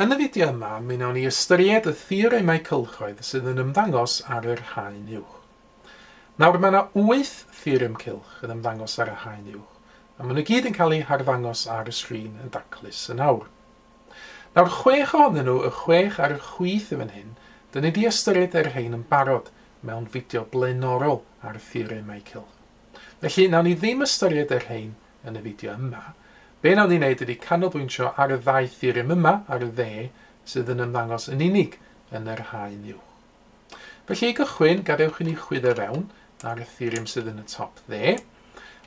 Yn y fideo yma, mi wnawn ni ystyried y theoremau cylchoedd sydd yn ymddangos ar yr haen uwch. Nawr, mae yna wyth theorem cylch yn ymddangos ar y haen uwch, a maen nhw gyd yn cael eu harddangos ar y sgrin yn daclus yn awr. Nawr, chwech ohonyn nhw, y chwech ar y chwith yn fan hyn, dyn ni wedi ystyried yr rhain yn barod mewn fideo blaenorol ar theoremau cylch. Felly, nawn ni ddim ystyried yr rhain yn y fideo yma. Be wnawn ni wneud ydy canolbwyntio ar y ddau theorem yma ar y dde sydd yn ymddangos yn unig yn yr haen uwch. Felly i gychwyn, gadewch i ni chwyddo fewn ar y theorem sydd yn y top dde.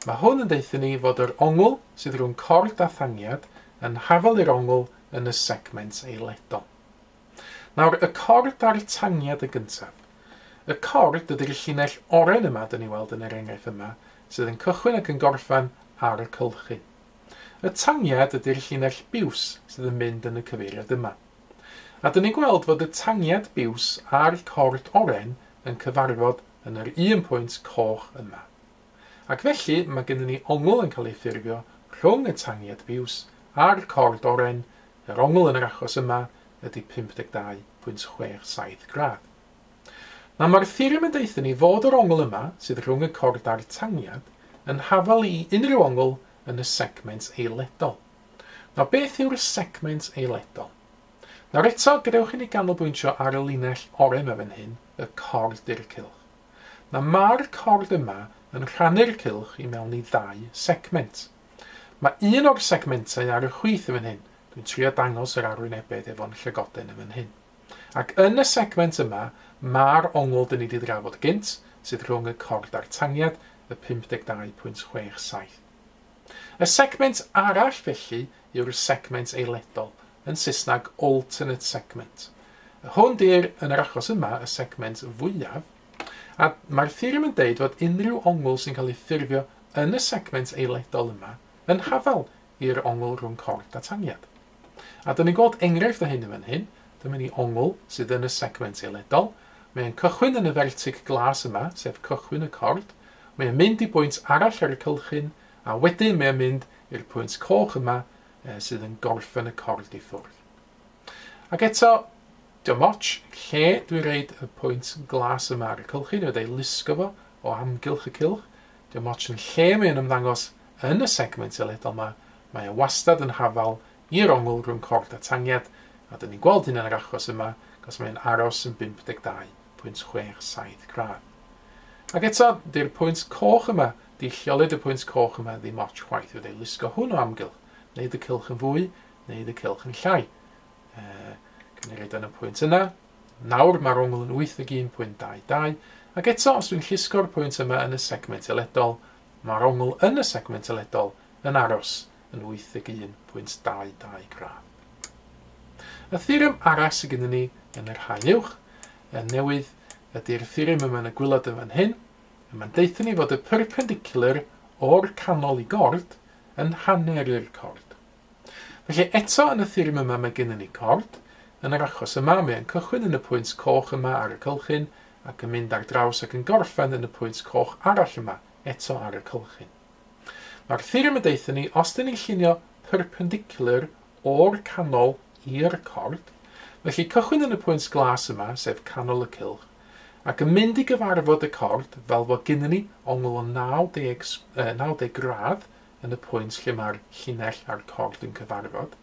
Mae hwn yn deuthyn ni fod yr ongl sydd rhwng cord a thangiad yn hafal i'r ongl yn y segment eiledol. Nawr, y cord a'r tangiad yn gyntaf. Y cord ydy'r llinell oren yma, dyn ni weld yn yr enghraifft yma, sydd yn cychwyn ac yn gorffen ar y cylchu. Y tangiad ydy'r llinell biws sydd yn mynd yn y cyfeiriad yma. A dyn ni'n gweld fod y tangiad biws a'r cord oren yn cyfarfod yn yr un pwynt coch yma. Ac felly mae gennym ni ongl yn cael ei ffurfio rhwng y tangiad biws a'r cord oren, yr ongl yn yr achos yma ydy 52.67 gradd. Nawr mae'r theorem yn deutha ni fod yr ongl yma, sydd rhwng y cord a'r tangiad, yn hafal i unrhyw ongl yn y segment eiledol. Nawr beth yw'r segment eiledol? Nawr eto, gadewch i ni ganolbwyntio ar y linell oren yma fan hyn, y cord i'r cylch. Mae ma'r cord yma yn rhannu'r cylch i mewn i ddau segment. Mae un o'r segmentau ar y chwith yn fan hyn, dwi'n trio dangos yr arwynebedd efo'n llygoden yn fan hyn. Ac yn y segment yma, ma'r ongl dyn ni di drafod gynt, sydd rhwng y cord a'r tangiad, y 52.67. Y segment arall felly yw'r segment eiledol, yn Saesneg alternate segment. Hwn 'di'r, yn yr achos yma, y segment fwyaf, a mae'r theorem yn deud fod unrhyw ongl sy'n cael ei ffurfio yn y segment eiledol yma yn hafal i'r ongl rhwng cort a tangiad. A dyn ni'n gweld enghraifft o hyn yn fan hyn, dyma ni ongl sydd yn y segment eledol, mae e'n cychwyn yn y fertig glas yma, sef cychwyn y cord, mae e'n mynd i bwynt arall ar y cylchyn, a wedyn mae e'n mynd i'r pwynt coch yma e, sydd yn gorffen y cord i ffwrdd. Ac eto, dim ots lle dwi'n reid y pwynt glas yma ar y cylchyn, wedi ei lusgo fo o amgylch y cylch, Dim ots yn lle mae'n ymddangos yn y segment eledol ma, mae e wastad yn hafal i'r ongl rhwng cord a tangiad, a dyn ni'n gweld hyn yn yr achos yma, cos mae e'n aros yn 52.67 gradd. Ac eto, dy'r pwynt coch yma, di lleolid y pwynt coch yma ddim ots chwaith, fydde lusgo hwn o amgylch, wneud y cylch yn fwy, wneud y cylch yn llai. Uh, Gan ei roed yn y pwynt yna, Nawr mae'r ongl yn 81.22 ac eto os dwi'n llusgo'r pwynt yma yn y segment eledol, mae'r ongl yn y segment eledol yn aros yn 81.22 gradd. Y theorem arall sydd gennym ni yn yr haen uwch yn newydd ydy'r theorem yma yn y gwylod yn fan hyn, Mae'n deutha ni fod y perpendicular o'r canol i gord yn hanner i'r cord. Felly, eto yn y theorem yma mae gennym ni cord, yn yr achos yma mae'n cychwyn yn y pwynt coch yma ar y cylchyn ac yn mynd ar draws ac yn gorffen yn y pwynt coch arall yma, eto ar y cylchyn. Mae'r theorem yn deutha ni, os dyn ni'n llunio perpendicular o'r canol i'r cord, felly cychwyn yn y pwynt glas yma, sef canol y cylch, ac yn mynd i gyfarfod y cord fel fod gennym ni ongl o 90, 90 gradd yn y pwynt lle mae'r llinell a'r cord yn cyfarfod.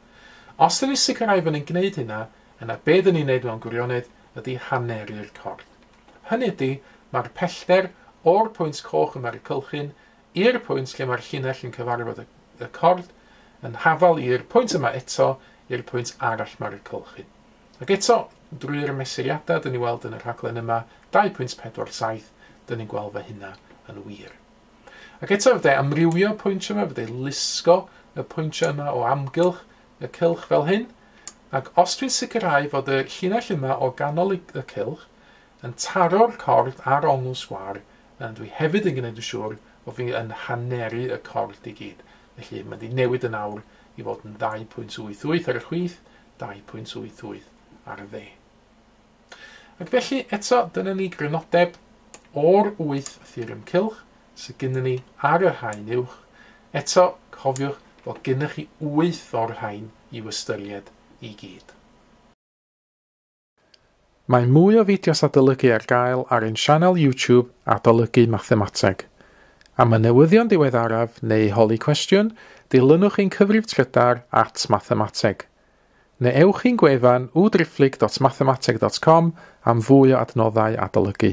Os dyn ni'n sicrhau fod ni'n gwneud hynna, yna be dyn ni'n gwneud mewn gwirionedd ydy haneru'r cord. Hynny ydy, mae'r pellter o'r pwynt coch yma ar y cylchyn i'r pwynt lle mae'r llinell yn cyfarfod y cord yn hafal i'r pwynt yma eto i'r pwynt arall mae'r cylchyn. Ac eto, drwy'r mesuriadau dyn ni weld yn y rhaglen yma, 2.47, dyn ni'n gweld fy hynna yn wir. Ac eto fydde amrywio pwyntiau yma, fydde lusgo y pwyntiau yma o amgylch y cylch fel hyn, ac os dwi'n sicrhau fod y llinell yma o ganol y cylch yn taro'r cordd ar ongl sgwar, yn dwi hefyd yn gwneud yn siŵr bod fi yn haneru y cordd i gyd. Felly mae'n di newid yn awr i fod yn 2.88 ar y chwith, 2.88 ar y dde. Ac felly, eto, dyna ni grynodeb o'r wyth theorem cylch sydd gyda ni ar yr haen uwch. Eto, cofiwch bod gennych chi wyth o'r rhain i'w ystyried i gyd. Mae mwy o fideos adolygu ar gael ar ein sianel YouTube Adolygu Mathemateg. Am y newyddion diweddaraf neu holi cwestiwn, dilynwch ein cyfrif trydar at Mathemateg. neu ewch i'n gwefan www.driphlyg.mathemateg.com am fwy o adnoddau adolygu.